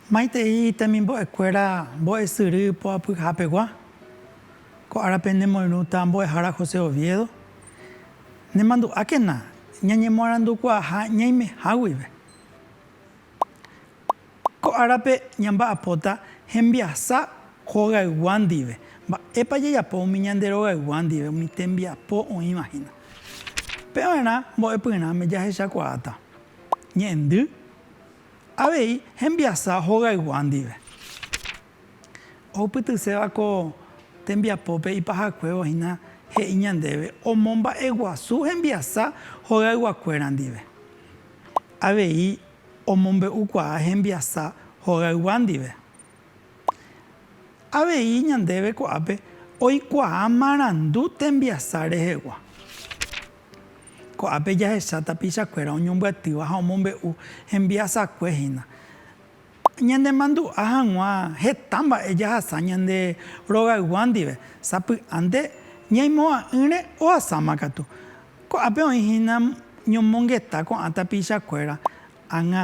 Maitei temimbo'ekuéra mbo'esyry poapyhapegua, ko árape nemoirũta mbo'ehára José Oviedo, nemandu'ákena ñañemoarandukuaaha ñaimeha guive. Ko árape ñamba'apóta hembiasa hogaygua ndive. Mba'épa jajapo umi ñande rogaygua ndive umi tembiapo oĩva hína? Pe va'erã mbo'epyrãme jahechakuaáta ñe'ẽndy avei hembiasa hogaygua ndive. Ohupytyséva ko tembiapópe ipahakuévo hína he'i ñandéve omomba'eguasu hembiasa hogayguakuéra ndive. Avei omombe'ukuaa hembiasa hogaygua ndive. Avei ñandéve ko'ápe oikuaa marandu tembiasa rehegua. Ko'ápe jahecha tapichakuéra oñombyatýva ha omombe'u hembiasakue hína. Ñanemandu'a hag̃ua heta mba'e jahasa ñande rogaygua ndive, sapy'ánte ñaimo'ã'ỹre ohasáma katu. Ko'ápe oĩ hína ñomongeta ko'ã tapichakuéra, ág̃a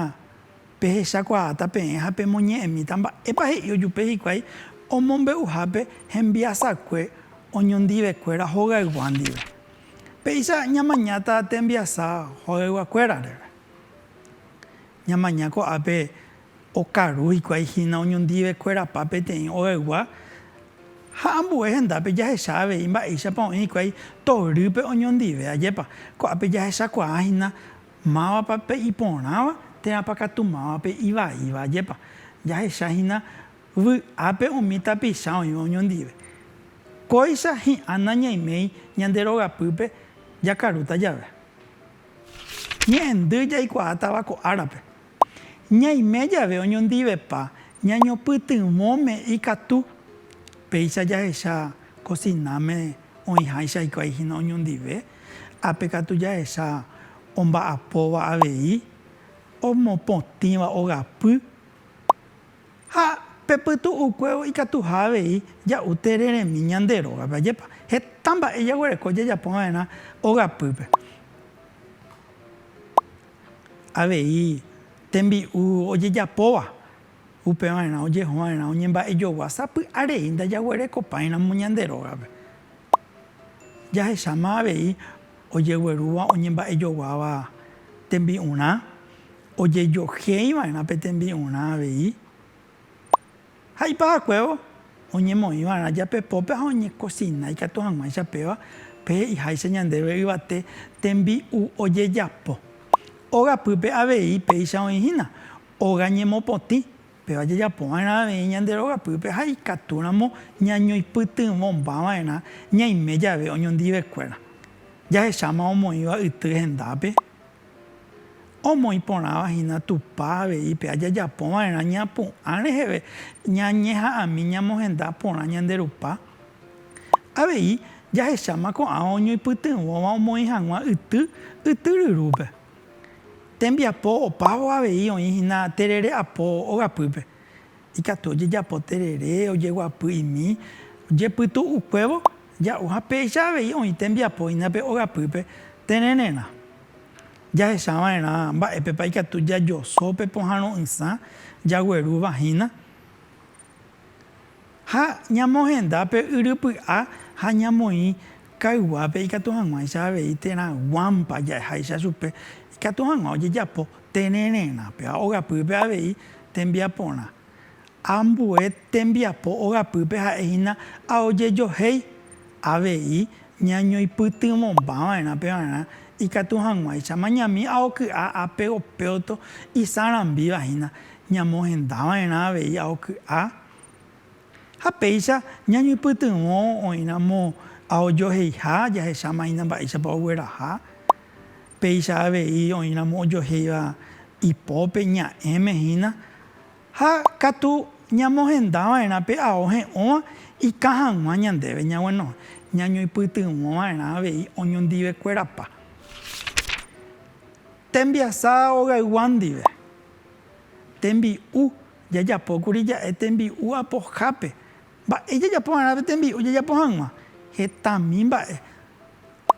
pehechakuaáta peẽ ha pemoñe'ẽmíta mba'épa he'i ojupe hikuái omombe'uhápe hembiasakue oñondivekuéra hogaygua ndive. Péicha ñamañáta tembiasa hogayguakuérare. Ñamaña ko'ápe okaru hikuái hína oñondivekuerapa peteĩ ogaygua ha ambue hendápe jahecha avei mba'éichapa oĩ hikuái torýpe oñondive. Ajépa, ko'ápe jahechakuaa hína mávapa pe iporãva térãpa katu mávape ivaíva. Ajépa, jahecha hína vy'ápe umi tapicha oĩva oñondive. Kóicha hi'ã nañaiméi ñande rogapýpe jakarúta jave. Ñe'ẽndy jaikuaátava ko árape. Ñaime jave oñondivepa ñañopytyvõme ikatu. Péicha jahecha kosináme oĩháicha hikuái hína oñondive, ápe katu jahecha omba'apóva avei omopotĩva ogapy. Ha pe pytu'ukuévo ikatuha avei ja'u tereremi ñande rógape. Ajépa heta mba'e jaguereko jajapo va'erã ogapýpe. Avei tembi'u ojejapóva, upe va'erã ojeho va'erã oñemba'ejogua sapy'arei ndajaguerekopáiramo ñande rógape. Jahecháma avei ojeguerúva oñemba'ejoguáva tembi'urã, Ojejohéi va'erã pe tembi'urã avei ha ipahakuévo oñemoĩ va'erã japepópe ha oñekosina ikatu hag̃uáicha péva, pe he'iháicha ñandéve yvate tembi'u ojejapo. Óga pýpe avei péicha oĩ hína óga ñemopotĩ, péva jajapo va'erã avei ñande róga pýpe ha ikatu ramo ñañoipytyvõmba va'erã ñaime jave oñondive kuéra. Jahecháma omoĩva yty hendápe. Omoĩ porãva hína Tupã avei pe ajajapo va'erã ñapu'ã reheve ñañeha'ãmi ñamohenda porã ñande Rupa. Avei jahecháma ko'ãva oñoipytyvõva omoĩ hag̃ua yty yty ryrúpe. Tembiapo opávo avei oĩ hína terere apo ogapýpe. Ikatu ojejapo terere, ojeguapy imi, jepytu'ukuévo Ja'u ha péicha avei oĩ tembiapo hína pe ogapýpe terererã. Jahecha va'erã mba'épepa ikatu jajoso pe pohãro'ysã jaguerúva hína ha ñamohenda pe yrypy'a ha ñamoĩ kayguápe ikatu hag̃uáicha avei térã guámpa ja'eháicha chupe ikatu hag̃ua ojejapo terererãpe ha ogapýpe avei tembiaporã. Ambue tembiapo ogapýpe ha'e hína a ojejohéi. Avei ñañoipytyvõmbava'erã pevarã ikatu hag̃uáicha mañami a oky'a a pegopéoto isarambíva hína, ñamohendava'erã avei a oky'a. Ha péicha ñañoipytyvõ oĩramo a ojoheiha jahecháma hína mba'éichapa ogueraha. Péicha avei oĩramo ojohéiva ipópe, ña'ẽme hína, Ha katu ñamohenda va'erã pe ao he'õva ikã hag̃ua ñandéve ñaguenohẽ, ñañoipytyvõ va'erã avei oñondivekuerapa tembiasa ogaygua ndive. Tembi'u, Jajapókuri ja'e tembi'u apohápe. Mba'e jajapo va'erã pe tembi'u jajapo hag̃ua? Hetami mba'e.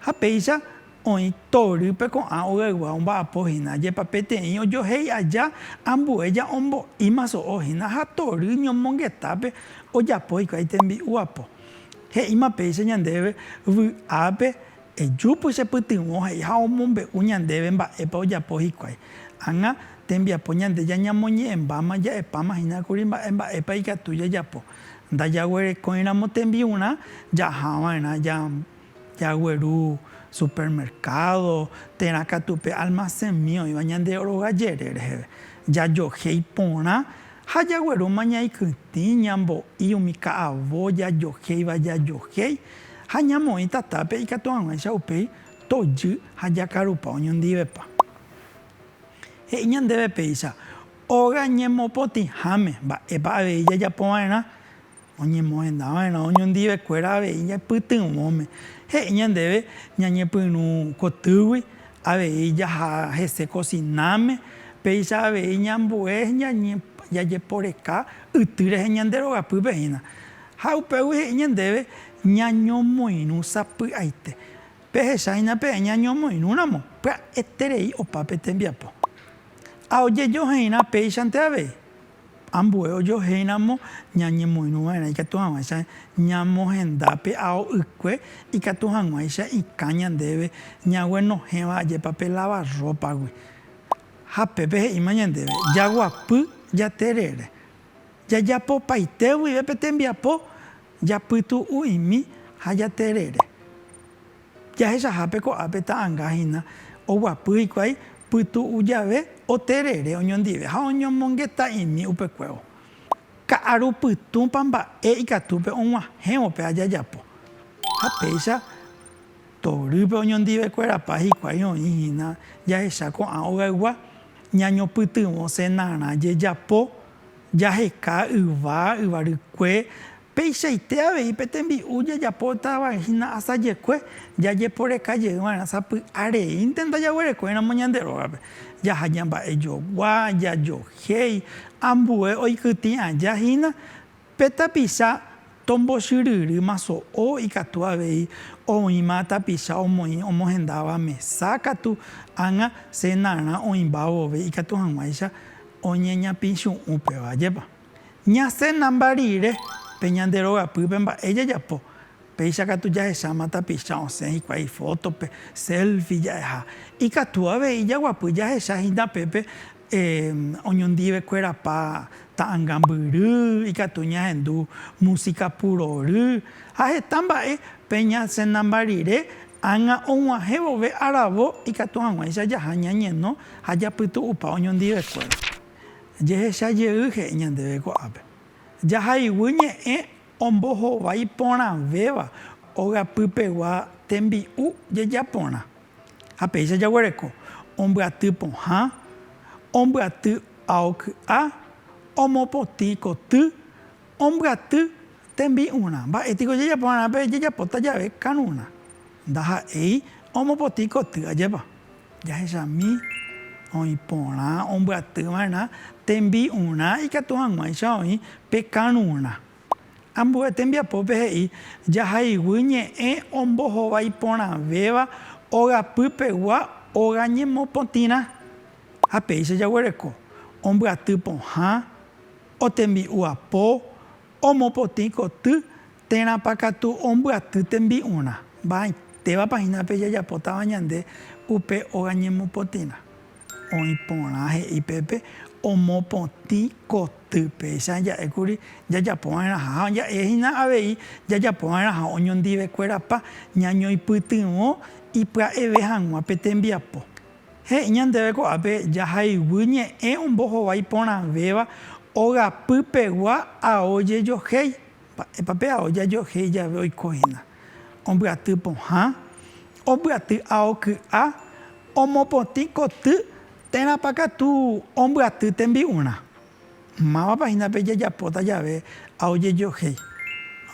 Ha péicha oĩ torýpe ko'ã ogaygua omba'apo hína, jepapeteĩ ojohéi aja ambue ja'ombo'íma so'o hína ha tory ñomongetápe ojapo hikuái tembi'u apo. He'íma péicha ñandéve vy'ápe Ejúpy che pytyvõ he'i ha omombe'u ñandéve mba'épa ojapo hikuái. Ág̃a tembiapo ñande jañamoñe'ẽmbáma ja'epáma hína kuri mba'e mba'épa ikatu jajapo. Ndajaguerekóiramo tembi'urã jahava'erã jagueru supermercado térã katu pe almacénmi oĩva ñande rogayere reheve. Jajohéi porã Ha jaguerúma ñaikytĩ, ñambo'i umi ka'avo jajohéiva jajohéi, ha ñamoĩ tatápe ikatu hag̃uáicha upéi tojy ha jakarupa oñondivepa. He'i ñandéve péicha, óga ñemopotĩháme, mba'épa avei jajapova'erã? Oñemohendava'erã oñondivekuéra avei ñaipytyvõme. He'i ñandéve ñañepyrũ kotýgui, avei jaha hese kosináme, péicha avei ñambue jajeporeka yty rehe ñande rogapýpe hína. Ha upégui he'i ñandéve ñañomoirũ sapy'aite. Pehecha hína peẽ ñañomoirũramo pya'eterei opa pe tembiapo. Ha ojejoheirã péichante avei. Ambue ojohéiramo ñañemoirũva'erã ikatu hag̃uáicha ñamohenda pe ao ykue, ikatu hag̃uáicha ikã ñandéve ñaguenohẽva ajépa pe lavarrópagui. Ha pépe he'íma ñandéve jaguapy jaterere, jajapopaite guive pe tembiapo, japytu'u'imi ha jaterere. Jahechahápe ko'ápe ta'anga hína oguapy hikuái pytu'u jave oterere oñondive ha oñomongeta'imi upekuévo. Ka'aru pytũpa mba'e ikatúpe og̃uahẽvo pe ajajapo. Ha péicha torýpe oñondivekuerapa hikuái oĩ hína jahecha ko'ã ogaygua, ñañopytyvõ senarã jejapo, jaheka yva, yvarykue, Peichaite avei pe tembi'u jajapotavahína asajekue jajeporeka jey va'erã sapy'a reínte ndajaguerekóiramo ñande rógape. Jaha ñamba'ejogua, jajohéi, ambue oikytĩ aja hína pe tapicha tombochyryrýma so'o ikatu avei oĩma tapicha omoĩ omohendáva mesa katu ág̃a cenarã oĩmba vove ikatu hag̃uáicha oñeñapĩchu'ũ péva, ajépa? Ñasenamba rire pe ñande rogapýpe mba'e jajapo. Péicha katu jahecháma tapicha osẽ hikuái ifótope, selfie ja'eha. Ikatu avei jaguapy jahecha hína pépe oñondive kuerapa ta'anga mbyry, ikatu ñahendu músika purory, ha heta mba'e pe ñasenamba rire ág̃a og̃uahẽ vove aravo ikatu hag̃uáicha jaha ñañeno ha japytu'upa oñondivekuéra. jehecha jey he'i ñandéve ko'ápe, Jahayguy ñe'ẽ ombohovái porãvéva ogapypegua tembi'u jejaporã, ha péicha jaguereko ombyaty pohã, ombyaty ao ky'a, omopotĩ koty, ombyaty Tembi'urã. Mba'e piko jajapo va'erã pe jajapóta jave karurã? Ndaha'éi omopotĩ koty, ajépa? Jahechami oĩ porã ombyaty va'erã tembi'urã ikatu hag̃uáicha oĩ pe karurã. Ambue tembiapópe he'i jahayhu ñe'ẽ ombohovái porãvéva ogapy pegua óga ñemopotĩrã. Ha péicha jaguereko, ombyaty pohã, otembi'u apo, Omopotĩ koty térãpa katu ombyaty tembi'urã, mba'aitévapa hína pe jajapótava ñande upe óga ñemopotĩrã. Oĩ porã he'i pépe omopotĩ koty, péicha ja'ékuri jajapova'erãha ja'e hína avei jajapova'erãha oñondivekuérapa ñañoipytyvõ ipya'eve hag̃ua pe tembiapo. He'i ñandéve ko'ápe jahayhu ñe'ẽ ombohovái porãvéva ogapy pegua ao jejohéi. Mba'épa pe ao jajohéi jave oiko hína? Ombyaty pohã, ombyaty ao ky'a, omopotĩ koty térãpa katu ombyaty tembi'urã. Mávapa hína pe jajapóta jave ao jejohéi?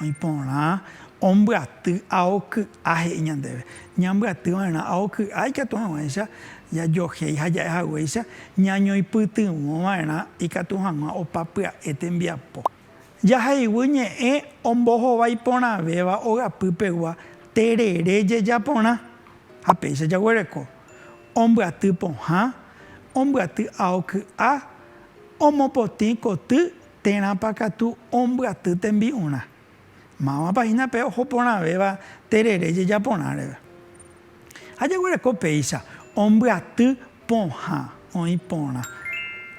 Oĩ porã ombyaty ao ky'a he'i ñandéve. Ñambyaty va'erã ao ky'a ikatu hag̃uáicha jajohéi ha ja'e haguéicha ñañoipytyvõ va'erã ikatu hag̃ua opa pya'e tembiapo. Jahayhu ñe'ẽ ombohovái porãvéva ogapy pegua terere jeja porã ha péicha jaguereko. Ombyaty pohã, ombyaty ao ky'a. omopotĩ koty térãpa katu ombyaty tembi'urã, mávapa hína pe oho porãvéva terere jejaporã reve. Ha jaguereko péicha ombyaty pohã, oĩ porã,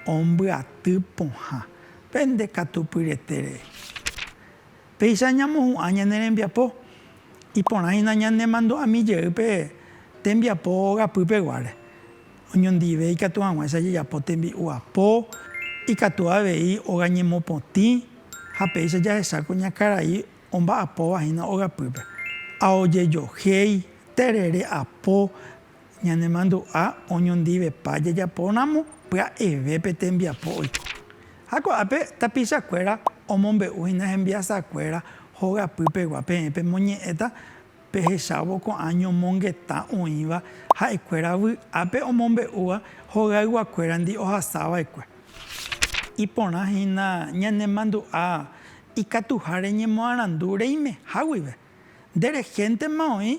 ombyaty pohã, pende katupyrete rei. Péicha ñamohu'ã ñane rembiapo, iporãhína ñanemandu'ami jey pe tembiapo ogapy peguáre. Oñondive ikatu hag̃uáicha jajapo tembi'u apo, ikatu avei óga ñemopotĩ ha péicha jahecháku ña karai omba'apóva hína ogapýpe. Aojejohéi, terere apo, Ñanemandu'a oñondivepa jajapóramo pya'eve pe tembiapo oiko. Ha ko'ápe tapichakuéra omombe'u hína hembiasakuéra hogapy pegua peẽ pemoñe'ẽta pehechávo ko'ã ñomongetã oĩva ha'ekuéra vy'ápe omombe'úva hogayguakuérandi ohasa va'ekue. Iporã hína ñanemandu'a ikatuha reñemoarandu reimeha guive. Nde rehéntema oĩ